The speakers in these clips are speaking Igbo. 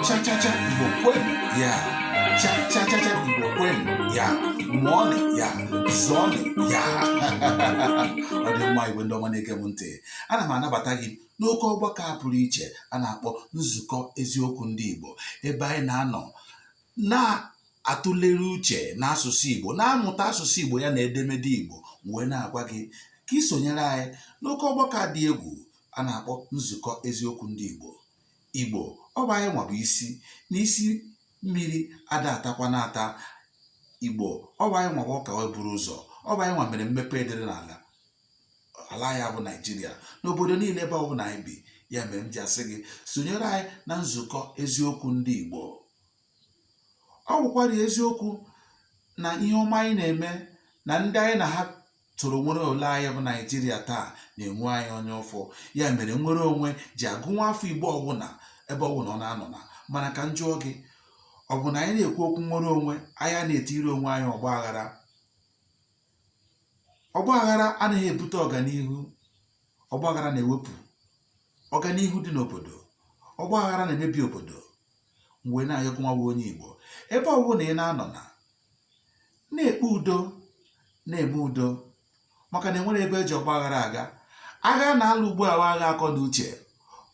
Cha-cha-cha Igbo kwenu ya Cha-cha-cha Igbo kwenu ya Mụọnị ya Zụọnị ya Ọ dị mma Igbo ndị ọma na-ege m ntị ana m anabata gị n'oke ọgbakọ a pụrụ iche a na-akpọ nzukọ eziokwu ndị Igbo ebe anyị na-anọ na-atụlere uche n'asụsụ Igbo na-amụta asụsụ Igbo ya na edemede Igbo m wee na-agwa gị ka ị sonyere anyị n'oke ọgbakọ dị egwu a na-akpọ nzukọ eziokwu ndị Igbo Igbo ọ bụ anyị nwa bụ isi n'isi mmiri ada atakwa na-ata Igbo ọ bụ anyị nwa bụ ọka wee buru ụzọ ọ bụ anyị nwa mere mmepe edere n'ala ala ya bụ Naijiria n'obodo niile ebe ọ bụla anyị bi ya mere m ji asị gị sonyere anyị na nzukọ eziokwu ndị Igbo ọ bụkwara eziokwu na ihe ọma anyị na-eme na ndị anyị na ha soro nwere ala anyị bụ naijiria taa na-enwe anyị anya ụfụ ya mere nnwere onwe ji agụ nwa afọ igbo ọbụla ebe ọbụla ọ na-anọ na mana ka m jụọ gị ọ bụ na anyị na-ekwu okwu nnwere onwe anyị na-etiri onwe anyị ọgba aghara ọgba aghara anaghị ebute ọganihu ọgba aghara na-ewepụ ọganihu dị n'obodo ọgba aghara na-emebi obodo m wee na-ayọ gụ nwa bụ onye igbo ebe ọ bụla ị na-anọ na na-ekpe udo na-eme udo maka na enwerọ ebe eji ọgba aghara aga agha a na-alụ ugbu a wụ agha akọ na uche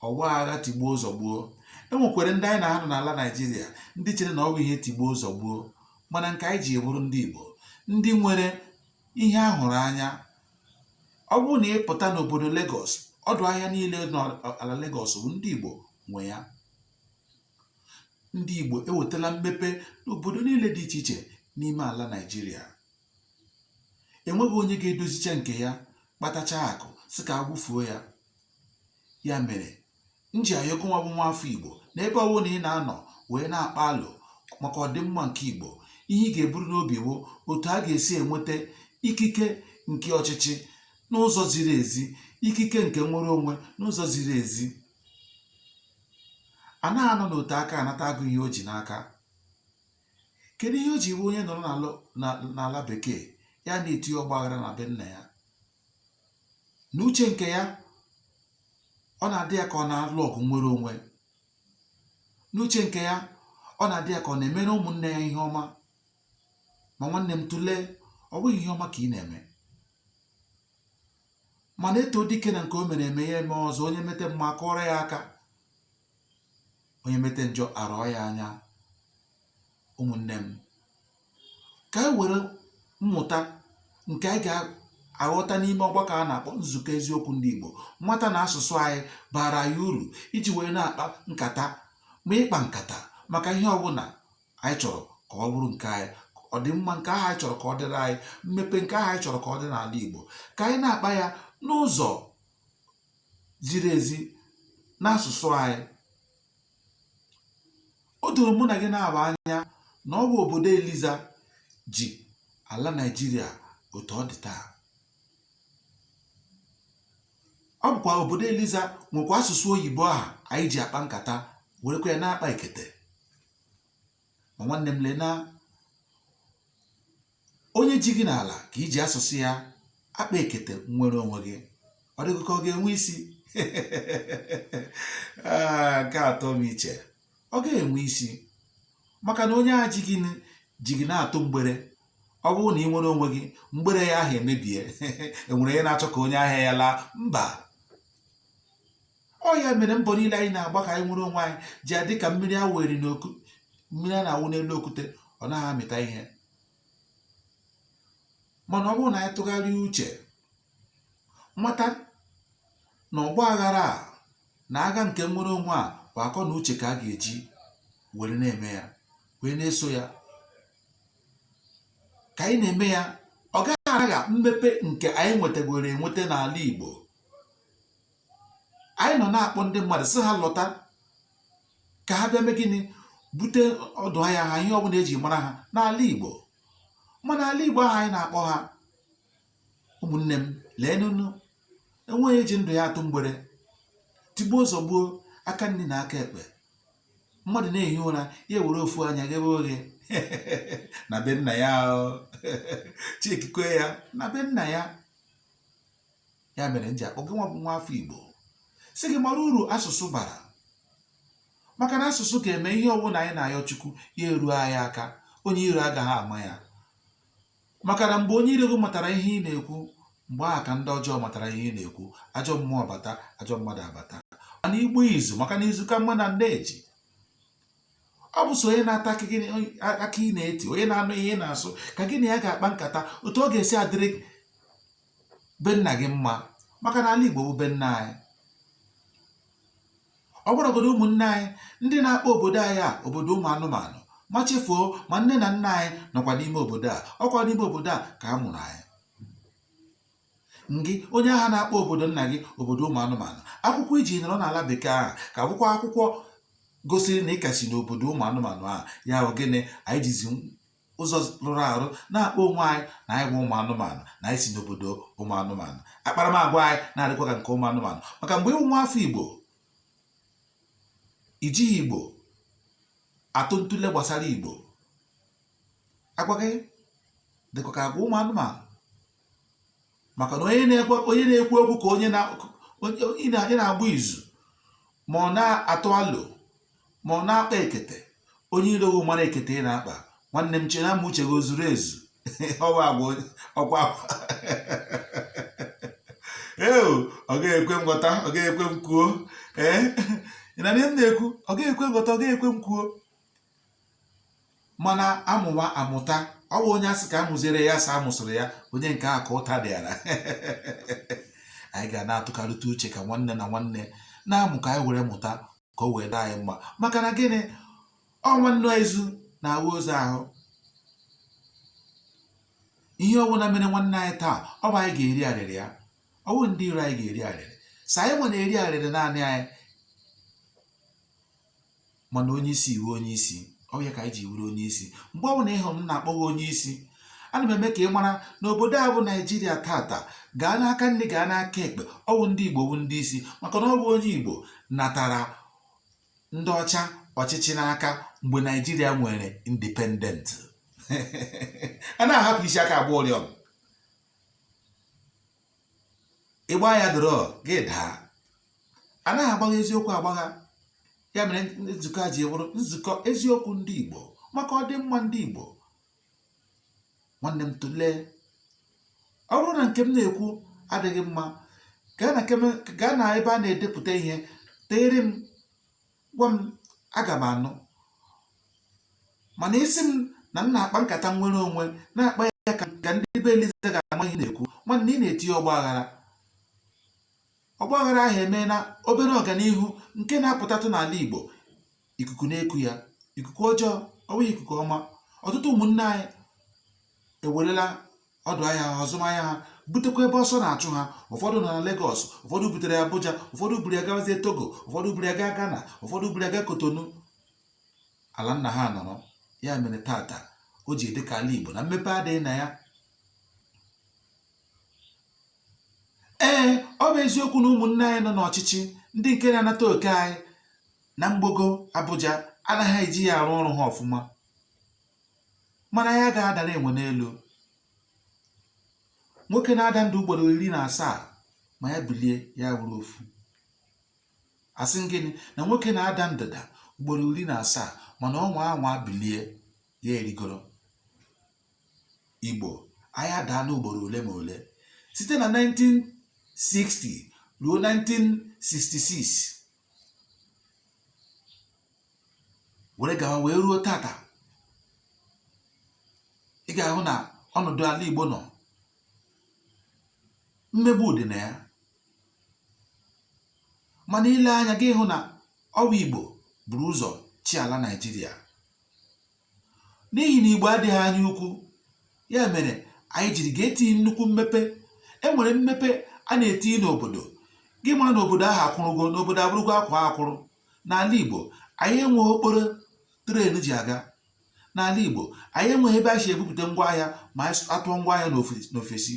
ọ bụghị agha tigbuo zọgbuo enwekwara ndị anyị na ha nọ n'ala naijiria ndị chere na ọ bụ ihe tigbuo zọgbuo mana nke anyị ji bụrụ ndị igbo ndị nwere ihe a hụrụ anya ọ bụrụ na ị pụta n'obodo Lagos ọdụ ahịa niile n'ala Lagos bụ ndị Igbo nwe ya ndị Igbo ewetala mmepe n'obodo niile dị iche iche n'ime ala Naịjirịa enweghị onye ga-edozicha nke ya kpatacha akụ sị ka a wụfuo ya ya mere m ji ayọ gụ nwa bụ nwa afọ Igbo na ebe ọwụna ị na-anọ wee na-akpa alo maka ọdịmma nke Igbo ihe ị ga-eburu n'obi wụ otu a ga-esi enweta ikike nke ọchịchị n'ụzọ ziri ezi ikike nke nnwere onwe n'ụzọ ziri ezi a na-anọ n'ote aka anata agụ ihe o ji n'aka kedu ihe o ji wụ onye nọrọ n'ala bekee ya na-eti ọgba aghara na be nna ya n'uche nke ya ọ na-adị ya ka ọ na-alụ ọgụ nnwere onwe n'uche nke ya ọ na-adị ya ka ọ na-emere ụmụnne ya ihe ọma ma nwanne m tụlee ọ bụghị ihe ọma ka ị na-eme mana eto dike na nke o mere eme ya eme ọzọ onye mete mma akụọrọ ya aka onye mete njọ arọọ ya anya ụmụnne m ka anyị were mmụta nke anyị ga-aghọta n'ime ọgbakọ a na-akpọ nzukọ eziokwu ndị Igbo mata na asụsụ anyị bara anyị uru iji wee na-akpa nkata ma ịkpa nkata maka ihe ọbụla anyị chọrọ ka ọ bụrụ nke anyị ọdịmma nke ahụ anyị chọrọ ka ọ dịrị anyị mmepe nke ahụ anyị chọrọ ka ọ dịrị ala Igbo ka anyị na-akpa ya n'ụzọ ziri ezi n'asụsụ anyị o doro mụ na gị naabọ anya na ọ bụ obodo Eliza ji ala Naịjirịa otu ọ dị taa ọ bụkwa obodo Eliza nwekwa asụsụ oyibo ahụ anyị ji akpa nkata werekwa ya na-akpa ekete ma nwanne m lee na onye ji gị n'ala ka i ji asụsụ ya akpa ekete nwere onwe gị ọ dị gị ka ọ ga-enwe isi ah, nke atọ m iche ọ ga-enwe isi maka na onye a ji gị ji gị na-atụ mgbere ọ bụrụ na ị nwere onwe gị mgbere ya ahụ emebie enwere onye na-achọ ka onye ahịa ya laa mba ọ ya mere mbọ niile anyị na-agba ka anyị nwere onwe anyị ji adị ka mmiri mmiri a na-awụ n'elu okwute ọ naghị amịta ihe mana ọ bụrụ na anyị tụgharịa uche mata na ọgba aghara a na agha nke nnwere onwe a bụ akọ na uche ka a ga-eji were na-eme ya wee na-eso ya ka anyị na-eme ya ọ gaghị agha mmepe nke anyị nwetagoro enweta n'ala Igbo anyị nọ na-akpọ ndị mmadụ sị ha lọta ka ha bịa mee gịnị bute ọdụ ahịa ha ihe ọbụla eji mara ha n'ala Igbo mana ala Igbo ahụ anyị na-akpọ ha ụmụnne m lee nụnụ enweghị eji ndụ ya atụ mgbere tigbuo zọgbuo aka nri na aka ekpe mmadụ na-ehi ụra ya ewere ofu anya ghebe oghe na be nna ya chikikwe ya na be nna ya ya mere m ji akpọ gị nwa bụ nwa afọ Igbo sị gị mara uru asụsụ bara maka na asụsụ ga-eme ihe ọbụla anyị na-ayọ Chukwu ya eruo anyị aka onye iro agaghị ama ya maka na mgbe onye iro gị matara ihe ị na-ekwu mgbe ahụ ka ndị ọjọọ matara ihe ị na-ekwu ajọ mmụọ bata ajọ mmadụ abata mana igbu izu maka na izu ka mma na nne ji ọ bụ so onye na-ata aka ị na-eti onye na-anụ ihe ị na-asụ ka gị na ya ga-akpa nkata otu ọ ga-esi adịrị be nna gị mma maka na ala Igbo bụ be nna anyị ọ gwaragodo ụmụnne anyị ndị na-akpọ obodo anyị a obodo ụmụ anụmanụ ma chefuo ma nne na nna anyị nọkwa n'ime obodo a ọkwa n'ime obodo a ka a mụrụ anyị ngị onye ahụ na-akpọ obodo nna gị obodo ụmụ anụmanụ akwụkwọ i ji nọrọ n'ala bekee ahụ ka wụkwa akwụkwọ gosiri na ị ka si n'obodo ụmụ anụmanụ ahụ ya ogene anyị jizi ụzọ rụrụ arụ na-akpọ onwe anyị na anyị bụ ụmụ anụmanụ na anyị si n'obodo ụmụ anụmanụ akparamagwa anyị na-adịkwa ka nke ụmụ anụmanụ maka mgbe ị wụ nwa afọ igbo i jighị igbo atụ ntụle gbasara igbo agwa gị dịkwa ka agwa ụmụ anụmanụ maka na onye na-ekwu okwu ka onye na-agba izu ma ọ na-atụ alo ma ọ na-akpa ekete onye iro gị mara ekete ị na-akpa nwanne m chena ma uche gị o zuru ezu ọwa agwa ọkwa akwa ee ọ gaghị ekwe m ghọta ọ gaghị ekwe m kwuo ee ị na-anụ ihe m na-ekwu ọ gaghị ekwe m ghọta ọ gaghị ekwe m kwuo mana amụwa amụta ọ bụ onye a sị ka a mụziere ya sa amụsịrị ya onye nke a ka ụta dịara anyị ga na-atụkarịta uche ka nwanne na nwanne na-amụ ka anyị were mụta ka o wee dị anyị mma maka na gịnị ọ nwanne ozu na-awụ ozu ahụ ihe ọbụla mere nwanne anyị taa ọ bụ anyị ga-eri arịrị ya ọ bụ ndị iro anyị ga-eri arịrị sọ anyị nwa na-eri arịrị naanị anyị mana onye isi i wu onye isi ọ ya ka anyị ji wuru onye isi mgbe ọ bụla ị hụrụ m na-akpọ gị onye isi ana m eme ka ị mara na obodo a bụ naijiria tata gaa n'aka nri gaa n'aka ekpe ọ wụ ndị igbo bụ ndị isi maka na ọ bụ onye igbo natara ndị ọcha ọchịchị n'aka mgbe naijiria nwere independent a na-ahapụ isi aka agba ụrịọm ị gbaa ya dọrọ gị daa anaghị agbagha eziokwu agbagha ya mere nzukọ a ji bụrụ nzukọ eziokwu ndị Igbo maka ọdịmma ndị Igbo nwanne m tụlee ọ bụrụ na nke m na-ekwu adịghị mma gaa na ebe a na-edepụta ihe deere m gwa m aga m anụ mana ị sị m na m na-akpa nkata nwere onwe na-akpa ya ka ndị be Eliza ga-ama ihe ị na-ekwu nwanne ị na-etinye ọgba aghara ọgba aghara ahụ emena obere ọganihu nke na-apụtatụ n'ala Igbo ikuku na-eku ya ikuku ọjọọ ọ wụghị ikuku ọma ọtụtụ ụmụnne anyị ewerela ọdụ ahịa ha azụmahịa ha butekwa ebe ọsọ na-achụ ha ụfọdụ nọ na Lagos ụfọdụ butere Abuja ụfọdụ buru ya gawazie Togo ụfọdụ buru ya gaa Ghana ụfọdụ buru ya gaa Kotonu ala nna ha nọrọ ya mere tata o ji dị ka ala Igbo na mmepe adịghị na ya ee ọ bụ eziokwu na ụmụnne anyị nọ n'ọchịchị ndị nke na-anata oke anyị na mgbogo Abuja anaghị eji ya arụ ọrụ ha ọfụma mana ya ga-adara enwe n'elu nwoke na-ada nda ugboro iri na asaa ma ya bilie ya wụrụ ofu asị m gịnị na nwoke na-ada ndada ugboro iri na asaa mana ọ nwaa anwa bilie ya erigoro igbo anyị adaa n'ugboro ole ma ole site na 1960 ruo 1966 were gawa wee ruo tata ị ga-ahụ na ọnọdụ ala Igbo nọ mmegbu dị na ya mana i lee anya gị hụ na ọ nwa Igbo buru ụzọ chịa ala Naịjirịa n'ihi na Igbo adịghị anya ukwu ya mere anyị jiri ga-etinye nnukwu mmepe e nwere mmepe a na-etinye n'obodo gị mara na obodo ahụ akwụrụgo na obodo abụrụgo akwaa akwụrụ n'ala Igbo anyị enweghị okporo tren ji aga n'ala Igbo anyị enweghị ebe a si ebupụta ngwa ahịa ma a tụọ ngwa ahịa n'ofesi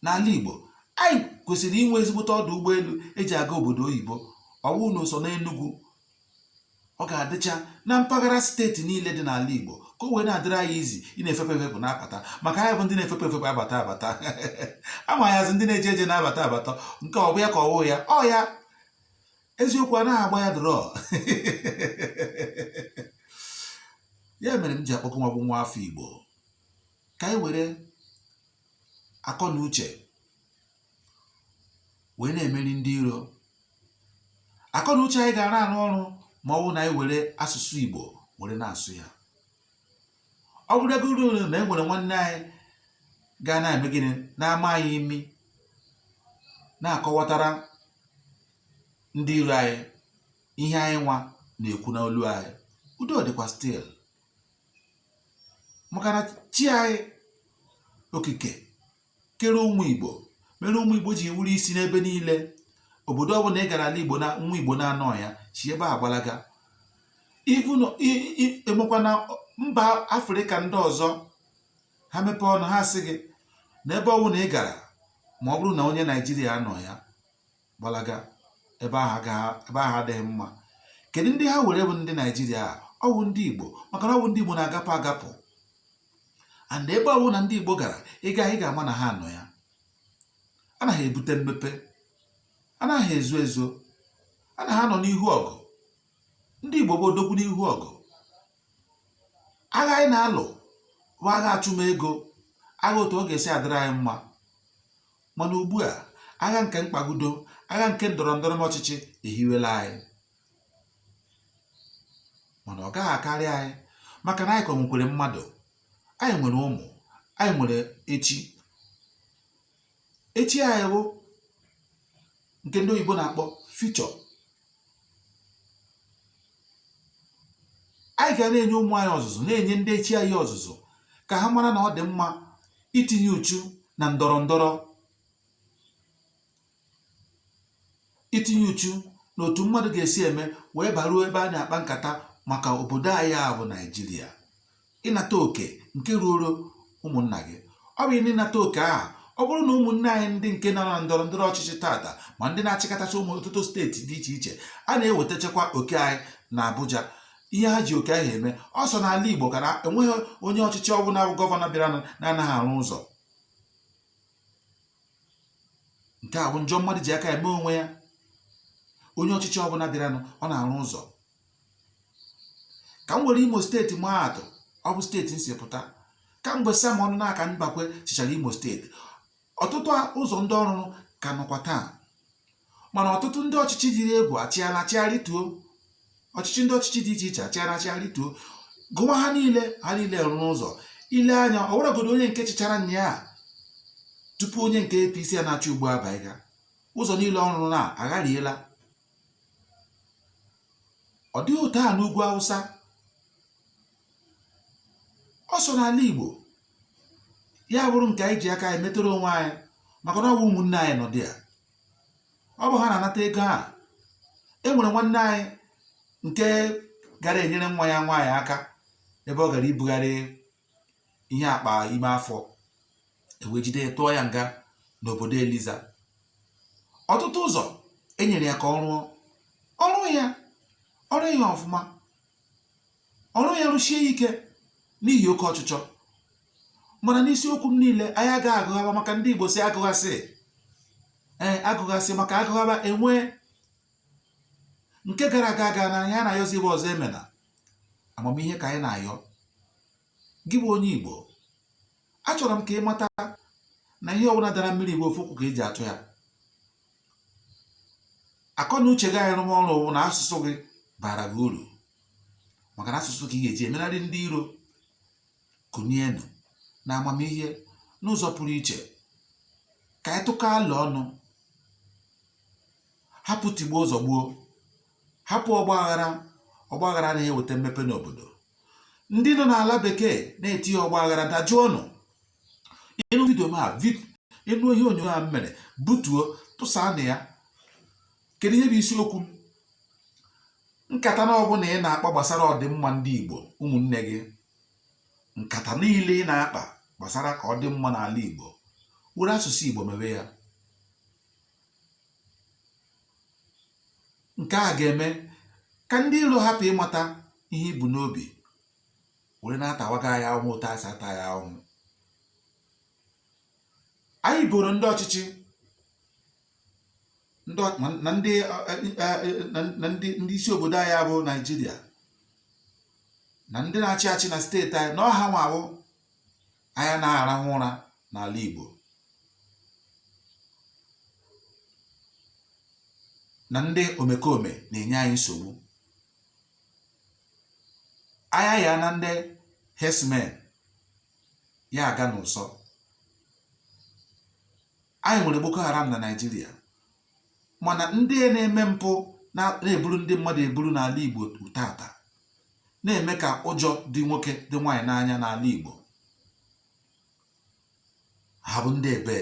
n'ala Igbo anyị kwesịrị inwe ezigbote ọdụ ụgbọelu eji aga obodo oyibo ọ wụghị na sọ n'Enugwu ọ ga-adịcha na mpaghara steeti niile dị n'ala Igbo ka o wee na-adịrị anyị easy ị na-efepụ efepụ na-abata maka anyị bụ ndị na-efepụ efepụ abata abata a ma anyị as ndị na-eje eje na-abata abata nke ọ bụ ya ka ọ wụ ya ọ ya eziokwu anaghị agba ya draw ya mere m ji akpọkọ nwa bụ nwa afọ Igbo ka anyị were akọ na uche wee na-emeri ndị iro akọ na uche anyị ga na-arụ ọrụ ma ọ bụrụ na anyị were asụsụ Igbo were na-asụ ya ọ bụrụgoro na e nwere nwanne anyị ga na-eme gịnị na-ama anyị imi na-akọwatara ndị iro anyị ihe anyị nwa na-ekwu n'olu anyị udo dịkwa still maka na chi anyị okike kere ụmụ igbo mere ụmụ igbo ji wụrụ isi n'ebe niile obodo ọbụla ị gara ala igbo na nwa igbo na-anọghị ya si ebe a gbalaga even emekwa na mba afrịka ndị ọzọ ha mepee ọnụ ha sị gị na ebe ọbụla ị gara ma ọ bụrụ na onye naijiria anọghị ya gbalaga ebe ahụ adịghị mma kedu ndị ha were bụ ndị naijiria ọwụ ndị igbo maka na ọwụ ndị igbo na-agapụ agapụ and ebe ọwụna ndị igbo gara ị ga ị ga-ama na ha nọ ya ana ha ebute mmepe anaghị ezo ezo ana ha anọ n'ihu ọgụ ndị igbo bụ odogwu n'ihu ọgụ agha anyị na-alụ bụ agha achụmego agha otu ọ ga-esi adịrị anyị mma mana ugbu a agha nke mkpagudo agha nke ndọrọ ndọrọ ọchịchị ehiwela anyị mana ọ gaghị akarị anyị maka na anyị ka nwekwere mmadụ anyị nwere ụmụ anyị nwere echi echi anyị bụ nke ndị oyibo na-akpọ future anyị ga na-enye ụmụ anyị ọzụzụ na-enye ndị echi anyị ọzụzụ ka ha mara na ọ dị mma itinye uchu na ndọrọ ndọrọ itinye uchu na otu mmadụ ga-esi eme wee baruo ebe a na-akpa nkata maka obodo anyị a bụ naijiria ịnata oke nke ruoro ụmụnna gị ọ bụ ịnata oke ahụ ọ bụrụ na ụmụnne anyị ndị nke nọ na ndọrọ ndọrọ ọchịchị tata ma ndị na-achịkọtacha ụmụ ọtụtụ steeti dị iche iche a na-ewetachakwa oke anyị na Abuja ihe ha ji oke ahụ eme ọ sọ n'ala Igbo ka na enweghị onye ọchịchị ọbụla bụ gọvanọ bịara na-anaghị arụ ụzọ nke a bụ njọ mmadụ ji aka eme onwe ya onye ọchịchị ọbụla bịaranụ ọ na-arụ ụzọ ka m were imo steeti maa atụ ọ bụ steeti m si pụta kamgbe sam ọnụnaka mbakwe chịchara imo steeti ọtụtụ ụzọ ndị ọ rụrụ ka nọkwa taa mana ọtụtụ ndị ọchịchị dịrị egwu achịala achịa rịtuo ọchịchị ndị ọchịchị dị iche iche achịala achịa rịtuo gụwa ha niile ha niile rụrụ ụzọ ị lee anya ọ weregodu onye nke chịchara nya ya tupu onye nke APC a na-achị ugbu a abịa ụzọ niile ọ rụrụ na aghariela ọ dịghị otu a n'ugwu awụsa ọ sọ n'ala igbo ya bụrụ nke anyị ji aka anyị metere onwe anyị maka na ọ bụ ụmụnne anyị nọ there ọ bụ ha na-anata ego a e nwere nwanne anyị nke gara enyere nwa ya nwaanyị aka ebe ọ gara ibugharị ihe akpa ime afọ e wee jide ya tụọ ya nga n'obodo eliza ọtụtụ ụzọ e nyere ya ka ọ rụọ ọ rụghị ya ọ rụghị ya ọfụma ọ rụghị ya rụshie ya ike n'ihi oke ọchịchọ mana n'isiokwu m niile anyị agaghị agụghaba maka ndị igbo sị agụghasị ee agụghasị maka agụghaba enwee nke gara aga agana ihe anyị na-ayọzi bụ ọzọ emena amamihe ka anyị na-ayọ gị bụ onye Igbo achọrọ m ka ị mata na ihe ọbụla dara mmiri bụ ofu ụkwụ ka eji achọ ya akọ na uche gị anyị rụọ ọrụ bụ na asụsụ gị bara gị uru maka na asụsụ ka ị ga-eji emenarị ndị iro kunienụ na amamihe n'ụzọ pụrụ iche ka anyị tụkọ alo ọnụ hapụ tigbuo zọgbuo hapụ ọgbaghara ọgbaghara anaghị eweta mmepe n'obodo ndị nọ n'ala bekee na-etinye ọgbaghara dajụọnụ ị nụ vidio m a ị nụ ihe onyonyo a m mere butuo tụsaanụ ya kedu ihe bụ isiokwu m nkata na ọbụla ị na-akpa gbasara ọdịmma ndị Igbo ụmụnne gị nkata niile ị na-akpa gbasara ka ọ dị mma n'ala Igbo were asụsụ Igbo mebe ya nke a ga-eme ka ndị iro hapụ ịmata ihe i bu n'obi were na-atawaga anyị ahụhụ otu esi ata anyị ahụhụ anyị boro ndị ọchịchị ndị isi obodo anyị a bụ Naịjirịa na ndị na-achị achị na steeti anyị na ọ ha nwa bụ anyị anaghị arahụ ụra n'ala Igbo na ndị omekome na-enye anyị nsogbu anya ya na ndị herdsmen ya aga n'ụsọ anyị nwere Boko Haram na Naịjirịa mana ndị na-eme mpụ na-eburu ndị mmadụ eburu n'ala Igbo taata na-eme ka ụjọ dị nwoke dị nwaanyị n'anya n'ala Igbo ha bụ ndị ebe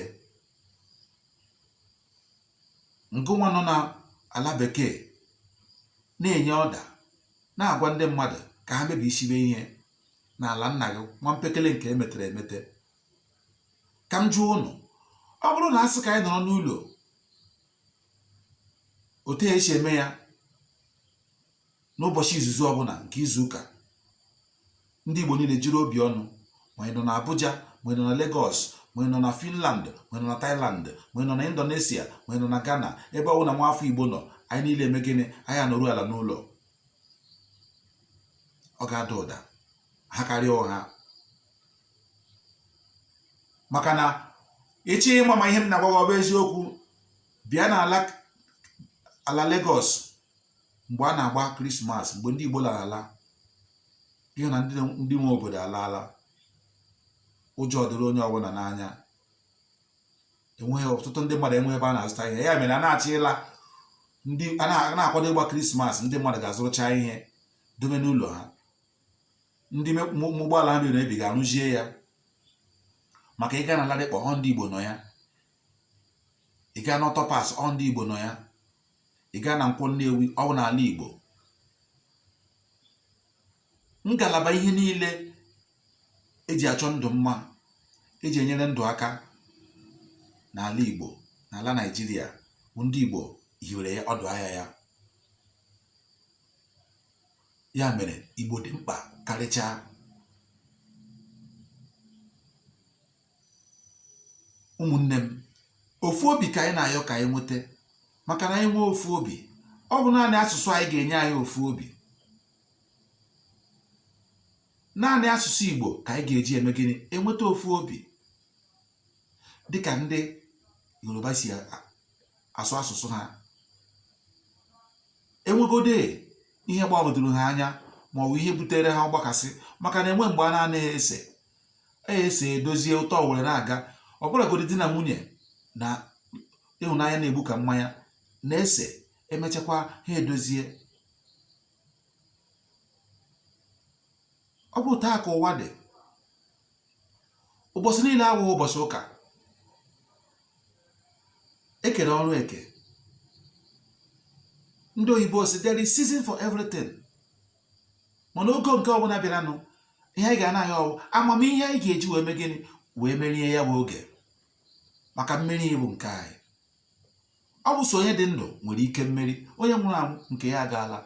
ngụnwa nọ n'ala bekee na-enye ọda na-agwa ndị mmadụ ka ha mebisibe ihe n'ala nna gị nwa mpekele nke emetere emete ka m jụọ unu ọ bụrụ na a sị ka anyị nọrọ n'ụlọ otu esi eme ya n'ụbọchị izizi ọbụla nke izu ụka ndị Igbo niile jiri obi ọnụ ma ị nọ na Abuja ma ị nọ na Lagos ma ị nọ na Finland ma ị nọ na Thailand ma ị nọ na Indonesia ma ị nọ na Ghana ebe ọ bụla nwaafọ Igbo nọ anyị niile eme gịnị anyị anọru ala n'ụlọ ọ ga-ada ụda ha karịa ụgha maka na ị chọọ ịma ma ihe m na-agwa gị ọ bụ eziokwu bịa n'ala ala Lagos mgbe a na-agba krismas mgbe ndị Igbo lara ala ị hụ na ndị nwe obodo alaala ụjọ dịrị onye ọbụla n'anya enweghị ọtụtụ ndị mmadụ enweghị ebe a na-azụta ihe ya mere a na-achọ ịla a na-akwado ịgba krismas ndị mmadụ ga-azụrụcha ihe dobe n'ụlọ ha ndị ụgbọala mebiri emebi ga-arụzie ya maka ị gaa na Ladipo ọ ndị Igbo nọ ya ị gaa na auto parts ọ ndị Igbo nọ ya ị gaa na nkwọ Nnewi ọ bụ n'ala Igbo ngalaba ihe niile eji achọ ndụ mma eji enyere ndụ aka n'ala Igbo n'ala Naịjirịa bụ ndị Igbo hiwere ya ọdụ ahịa ya ya mere igbo dị mkpa karịchaa ụmụnne m ofu obi ka anyị na-ayọ ka anyị nweta maka na anyị nwee ofu obi ọ bụ naanị asụsụ anyị ga-enye anyị ofu obi naanị asụsụ igbo ka anyị ga-eji eme gịnị enweta ofu obi dịka ndị yoruba si asụ asụsụ ha enwegode ihe gbagwojuru ha anya ma ọ bụ ihe butere ha ọgbakasị maka na enwe mgbe a na-anaghị ese esee edozie ụtọ were na-aga ọ bụrụgodi di na nwunye na ịhụnanya na-egbu ka mmanya na-ese emechakwa ha edozie ọ bụ otu a ka ụwa dị ụbọchị niile awụghị ụbọchị ụka ekere ọrụ eke ndị oyibo si there is season for everything mana oge nke ọbụla bịaranụ ihe anyị ga na-ayọ wụ amamihe anyị ga-eji wee mee gịnị wee merie ya bụ oge maka mmeri bụ nke anyị ọ bụ so onye dị ndụ nwere ike mmeri onye nwụrụ anwụ nke ya agaala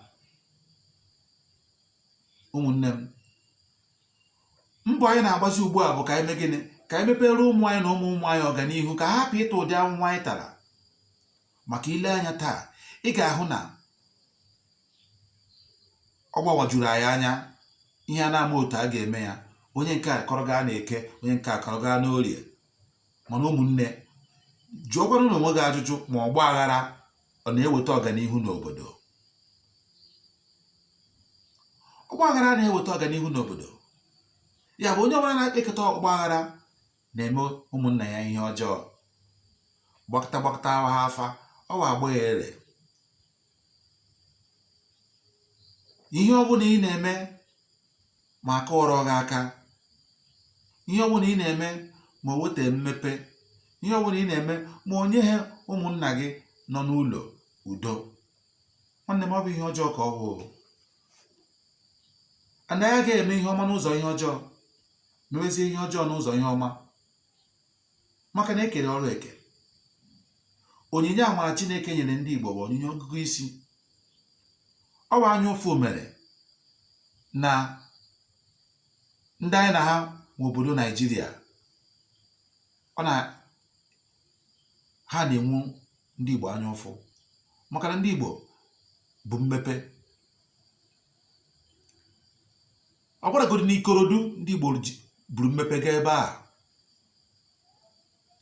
ụmụnne m mbọ anyị na-agbazi ugbu a bụ ka anyị mee gịnị ka anyị mepere ụmụ anyị na ụmụ ụmụ anyị ọganihu ka ha hapụ ịta ụdị ahụhụ anyị tara maka i lee anya taa ị ga-ahụ na ọ gbawajuru anyị anya ihe a na-ama otu a ga-eme ya onye nke a kọrọ gaa na eke onye nke a kọrọ gaa n'orie mana ụmụnne jụọkwanụ na onwe gị ajụjụ ma ọgba aghara ọ na-eweta ọganihu n'obodo ọgba aghara na-eweta ọganihu n'obodo ya bụ onye ọbụla na-ekekọta ọgba aghara na-eme ụmụnna ya ihe ọjọọ gbakọta gbakọta ha afa ọ wa agba ya ere ihe ọ bụla ị na-eme ma a kụọrọ gị aka ihe ọ bụla ị na-eme ma o weta mmepe ihe ọ bụla ị na-eme ma o nyeghị ụmụnna gị nọ n'ụlọ udo nwanne m ọ bụ ihe ọjọọ ka ọ bụ anaghị aga eme ihe ọma n'ụzọ ihe ọjọọ mewezie ihe ọjọọ n'ụzọ ihe ọma maka na e kere ọrụ eke onyinye amara Chineke nyere ndị Igbo bụ onyinye ọgụgụ isi ọ bụ anya ụfụ mere na ndị anyị na ha nwe obodo Naijiria ọ na ha na-enwu ndị Igbo anya ụfụ maka na ndị Igbo bụ mmepe ọ bụrụgodị n'Ikorodu ndị Igbo buru mmepe gaa ebe a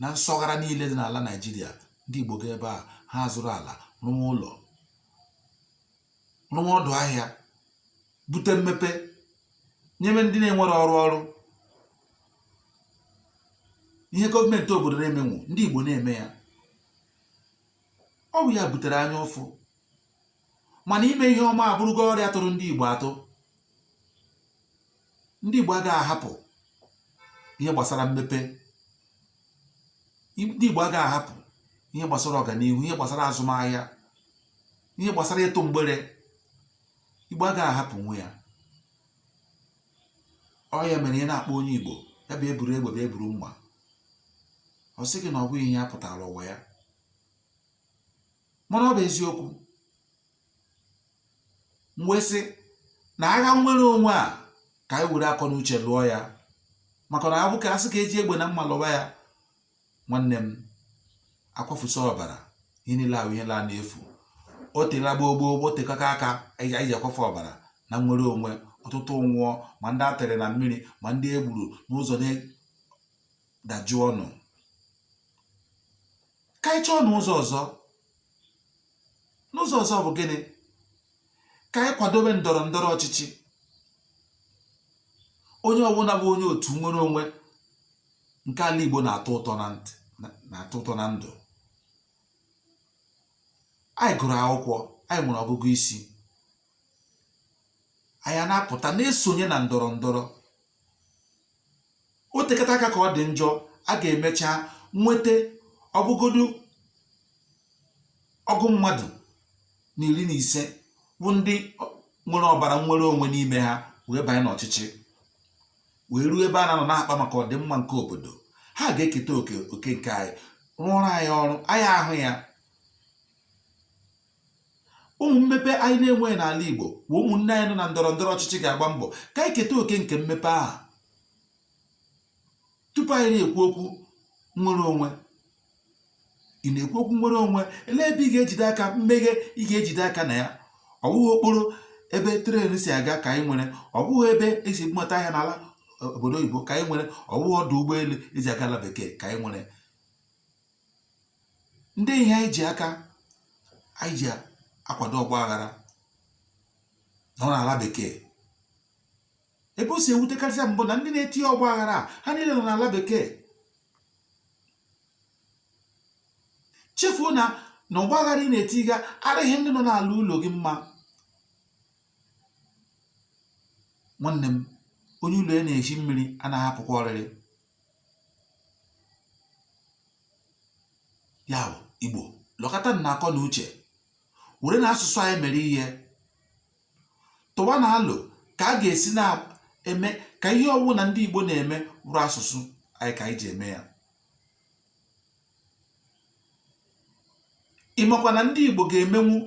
na nsọghara niile dị n'ala Naịjirịa ndị Igbo gaa ebe a ha zụrụ ala rụwa ụlọ rụwa ọdụ ahịa bute mmepe nyebe ndị na-enwere ọrụ ọrụ ihe gọọmenti obodo na-emenwu ndị Igbo na-eme ya ọ bụ ya butere anya ụfụ mana ime ihe ọma abụrụgo ọrịa tụrụ ndị Igbo atụ ndị Igbo agaghị ahapụ ihe gbasara mmepe ndị Igbo agaghị ahapụ ihe gbasara ọganihu ihe gbasara azụmahịa ihe gbasara ịtụ mgbere Igbo agaghị ahapụnwu ya ọ ya mere ị na-akpọ onye Igbo ya bịa buru egbe bịa buru mma ọ sị gị na ọ bụghị ihe ya pụtara ụwa ya mana ọ bụ eziokwu m wee sị na agha nnwere onwe a ka anyị were akọ na uche lụọ ya maka na abụ ka a sị ka e ji egbe na mma lụwa ya nwanne m a kwafusịa ọbara ihe niile ahụ ihe laa n'efu o tela gboo gboo gboo o tekata aka anyị ji akwafu ọbara na nnwere onwe ọtụtụ nwụọ ma ndị a tụrụ na mmiri ma ndị e gburu n'ụzọ na-edajụ ọnụ ka anyị chọọ n'ụzọ ọzọ n'ụzọ ọzọ bụ gịnị ka anyị kwadobe ndọrọ ndọrọ ọchịchị onye ọbụla bụ onye otu nnwere onwe nke ala Igbo na-atọ ụtọ na ndụ anyị gụrụ akwụkwọ anyị nwere ọgụgụ isi anyị na-apụta na-esonye na ndọrọ ndọrọ o tekata aka ka ọ dị njọ a ga-emecha nweta ọ bụgodu ọgụ mmadụ na iri na ise bụ ndị nwere ọbara nnwere onwe n'ime ha wee banye n'ọchịchị wee ruo ebe a na-anọ na-akpa maka ọdịmma nke obodo ha ga-eketa oke oke nke anyị rụọrọ anyị ọrụ anyị ahụ ya ụmụ mmepe anyị na-enweghị n'ala Igbo bụ ụmụnne anyị nọ na ndọrọ ndọrọ ọchịchị ga-agba mbọ ka anyị keta oke nke mmepe ahụ tupu anyị na-ekwu okwu nwere onwe ị na-ekwu okwu nwere onwe elee ebe ị ga-ejide aka mmeghe ị ga-ejide aka na ya ọ bụghị okporo ebe tren si aga ka anyị nwere ọ bụghị ebe e si nweta ahịa n'ala e, obodo oyibo ka anyị nwere ọ bụghị ọdụ ụgbọelu e ji aga ala bekee ka anyị nwere ndị ihe anyị ji aka anyị ji akwado ọgba aghara nọ n'ala bekee ebe o si ewutekarịsị m bụ na ndị na-eti ọgba aghara ha niile nọ n'ala bekee chefuo na na ọgba aghara ị na-etiga arịghị ndị nọ n'ala ụlọ gị mma nwanne m onye ụlọ ya na-eshi mmiri anaghị apụkwa oriri ya bụ igbo lọkọtanụ akọ na uche werenụ asụsụ anyị mere ihe tụwanụ alo ka a ga-esi na-eme ka ihe ọwụna ndị igbo na-eme bụrụ asụsụ anyị ka anyị ji eme ya ị makwa na ndị Igbo ga-emenwu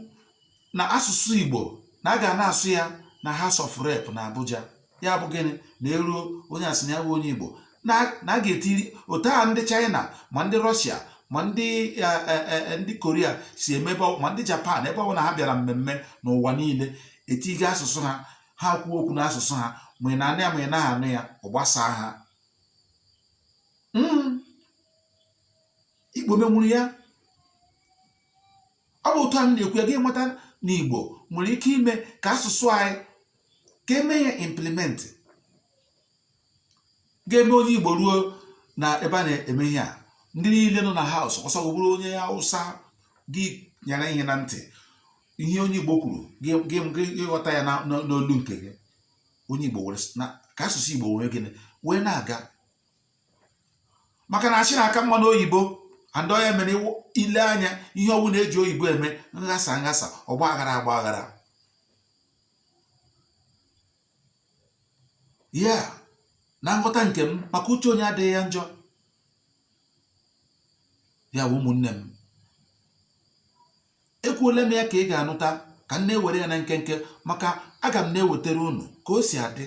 na asụsụ Igbo na a ga na-asụ ya na House of Rep na Abuja ya bụ gịnị na e ruo onye a sị na ya bụ onye Igbo na a ga-etiri otu a ndị China ma ndị Rọshia ma ndị e, e, e, ndị Korea si emebe ma ndị Japan ebe ọwụna ha bịara mmemme n'ụwa niile e tiga asụsụ ha ha kwuo okwu n'asụsụ ha ma ị na-anụ ya ma ị naghị anụ ya ọ gbasaa ha hmm. igbo menwuru ya ọ bụ otu a na-ekwu ya gị aghọta na igbo nwere ike ime ka asụsụ anyị ka e mee ya implement ga-eme onye igbo ruo na ebe a na-eme ihe a ndị niile nọ na house ọ sọ gị bụrụ onye awụsa gị nyara ihe na ntị ihe onye igbo kwuru gị ghọta ya n'olu nke gị onye igbo werekwa asụsụ igbo wee gịnị wee na-aga maka na ashị na-aka mma n'oyibo and ọ ya mere i lee anya ihe ọwụna e ji oyibo eme nghasa nghasa ọgba aghara agba aghara ya na nghọta nke m maka uche onye adịghị ya njọ ya bụ ụmụnne m ekwuola m ya ka ị ga-anụta ka m na-ewere ya na nkenke maka aga m na-ewetara unu ka o si adị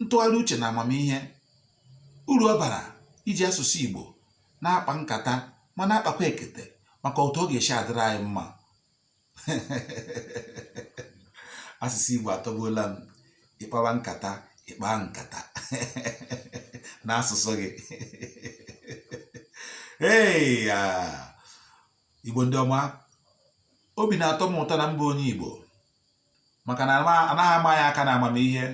ntụgharị uche na amamihe uru ọ bara iji asụsụ Igbo na-akpa nkata ma na-akpakwa ekete maka otu ọ ga-esi adịrị anyị mma asụsụ Igbo atọgbuola m ịkpawa nkata ịkpa nkata na asụsụ gị ee Igbo ndị ọma obi na-atọ m ụtọ na m bụ onye Igbo maka na anaghị ama ya aka na amamihe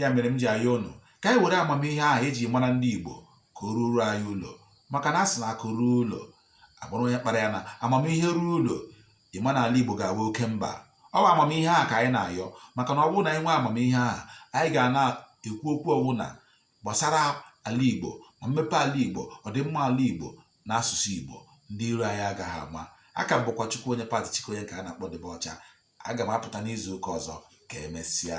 ya mere m ji ayọ ụnụ ka anyị were amamihe ahụ eji mara ndị Igbo ka o ruo anyị ụlọ maka na a sị na akụ ruo ụlọ agbụrụ onye kpara ya na amamihe ruo ụlọ ị ma na ala Igbo ga-abụ oke mba ọ bụ amamihe ahụ ka anyị na-ayọ maka na ọ bụrụ na anyị nwee amamihe ahụ anyị ga na-ekwu okwu ọwụna gbasara ala Igbo ma mmepe ala Igbo ọdịmma ala Igbo na asụsụ Igbo ndị iro anyị agaghị ama aka m bụkwa Chukwu onye Pati Chukwu onye nke a na-akpọ Dibịa Ọcha aga m apụta n'izu ụka ọzọ ka emesịa